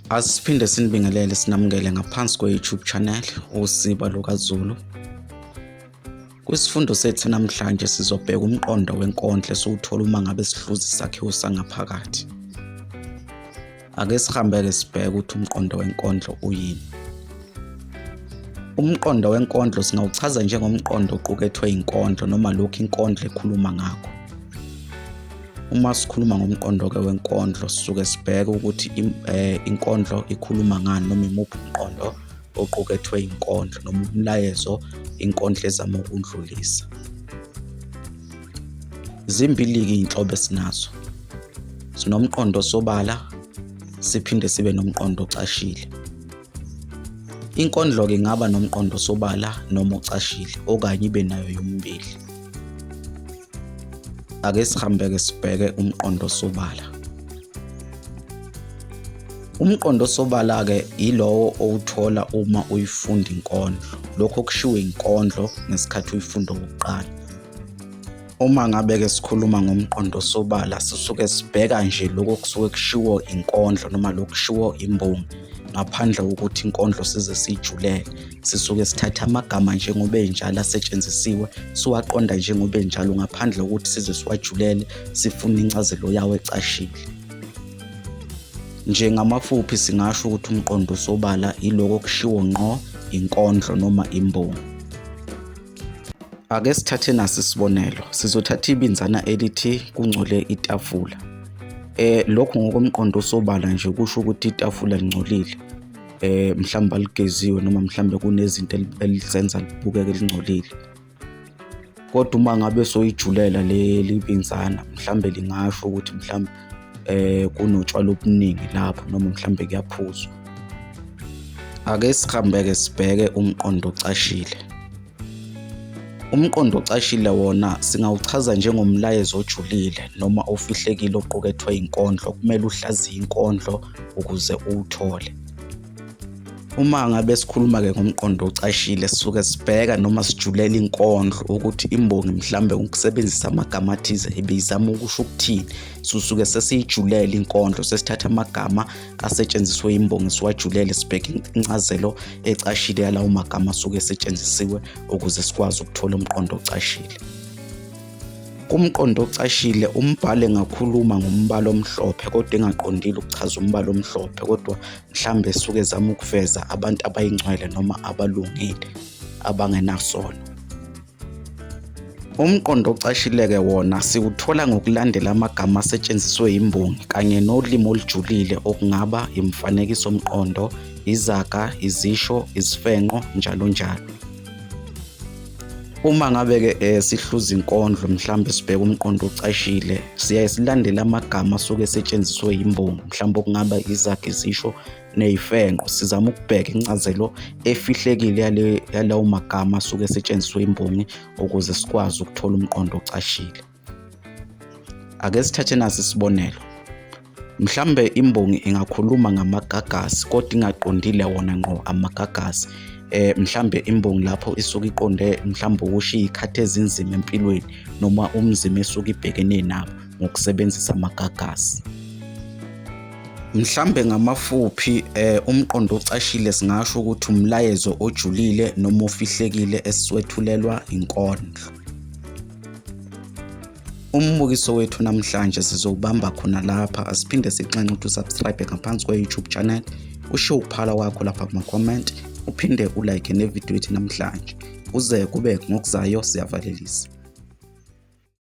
Asiphinde sinibingelele sinamukele ngaphansi kwe-YouTube channel uSiba LukaZulu. Kwisifundo sethu namhlanje sizobheka umqondo wenkondlo esiwuthola uma ngabe sihluza isakhiwo sangaphakathi. Ake sihambeke sibheke ukuthi umqondo wenkondlo uyini. Umqondo wenkondlo singawuchaza njengomqondo oqukethwe inkondlo noma lokhu inkondlo ekhuluma ngakho. uma sikhuluma ngomqondo-ke wenkondlo sisuke sibheke ukuthi eh, inkondlo ikhuluma ngani noma imuphi umqondo oqukethwe inkondlo noma umlayezo inkondlo ezama ukundlulisa zimbili-ke iy'nhlobo esinazo sinomqondo osobala siphinde sibe nomqondo ocashile Inkondlo-ke ingaba nomqondo sobala noma ocashile okanye ibe nayo yomibili. Ake sihambe-ke sibheke umqondo sobala. Umqondo sobala-ke yilowo owuthola uma uyifunda inkondlo. Lokho kushiwo inkondlo ngesikhathi uyifunda okokuqala. uma ngabe-ke sikhuluma ngomqondo osobala sisuke sibheka nje lokho kusuke kushiwo inkondlo noma lokhu kushiwo imbongi ngaphandle kokuthi inkondlo size siyijulele sisuke sithatha amagama njengoba enjalo asetshenzisiwe siwaqonda njengoba enjalo ngaphandle kokuthi size siwajulele sifune incazelo yawo ecashile njengamafuphi singasho ukuthi umqondo osobala iloko kushiwo ngqo inkondlo noma imbongi Ake sithathe nasi isibonelo. Sizothatha ibinzana elithi kungcole itafula. Eh lokho ngokomqondo osobala nje kusho ukuthi itafula lingcolile. Eh mhlawumbe aligeziwe noma mhlawumbe kunezinto elizenza libukeke lingcolile. Kodwa uma ngabe soyijulela leli binzana mhlawumbe lingasho ukuthi mhlawumbe eh kunotshwala obuningi lapho noma mhlambe kuyaphuzwa ake sihambeke sibheke umqondo ocashile umqondo ocashile wona singawuchaza njengomlayezo ojulile noma ofihlekile oqukethwe inkondlo kumele uhlaziye inkondlo ukuze uwuthole uma ngabe sikhuluma-ke ngomqondo ocashile sisuke sibheka noma sijulela inkondlo ukuthi imbongi mhlawumbe ukusebenzisa amagama athize ibiyizama ukusho ukuthini susuke sesiyijulele inkondlo sesithatha amagama asetshenziswe imbongi siwajulele sibheke incazelo ecashile yalawo magama asuke esetshenzisiwe ukuze sikwazi ukuthola umqondo ocashile Kumqondo ocashile umbhali engakhuluma ngombala omhlophe kodwa engaqondile ukuchaza umbala omhlophe kodwa mhlawumbe esuke ezama ukuveza abantu abayingcwele noma abalungile abangenasono. Umqondo ocashileke wona siwuthola ngokulandela amagama asetshenziswe yimbongi kanye nolimi olujulile okungaba imfanekisomqondo, izaga, izisho, izifenqo, njalo njalo. Uma ngabe-ke um eh, sihluza inkondlo mhlawumbe sibheke umqondo ocashile siyaye silandele amagama asuke esetshenziswe yimbongi mhlawumbe okungaba izakhe izisho neyifenqo sizama ukubheka incazelo efihlekile yalawo magama asuke esetshenziswe imbongi ukuze sikwazi ukuthola umqondo ocashile Ake sithathe nasi isibonelo. Mhlambe imbongi ingakhuluma ngamagagasi kodwa ingaqondile wona ngqo amagagasi. Eh mhlambe imbongi lapho isuke iqonde mhlambe ukushiya ikhathi ezinzima empilweni noma umzima esuke ibhekene nabo ngokusebenzisa amagagasi. Mhlambe ngamafuphi eh umqondo ocashile singasho ukuthi umlayezo ojulile noma ofihlekile esiwethulelwa inkondlo. Umbukiso wethu namhlanje sizowubamba khona lapha asiphinde sixenxe ukuthi usubscribe ngaphansi kwe-YouTube channel usho ukuphala kwakho lapha kuma-comment uphinde ulike nevidiyo yethu namhlanje kuze kube ngokuzayo siyavalelisa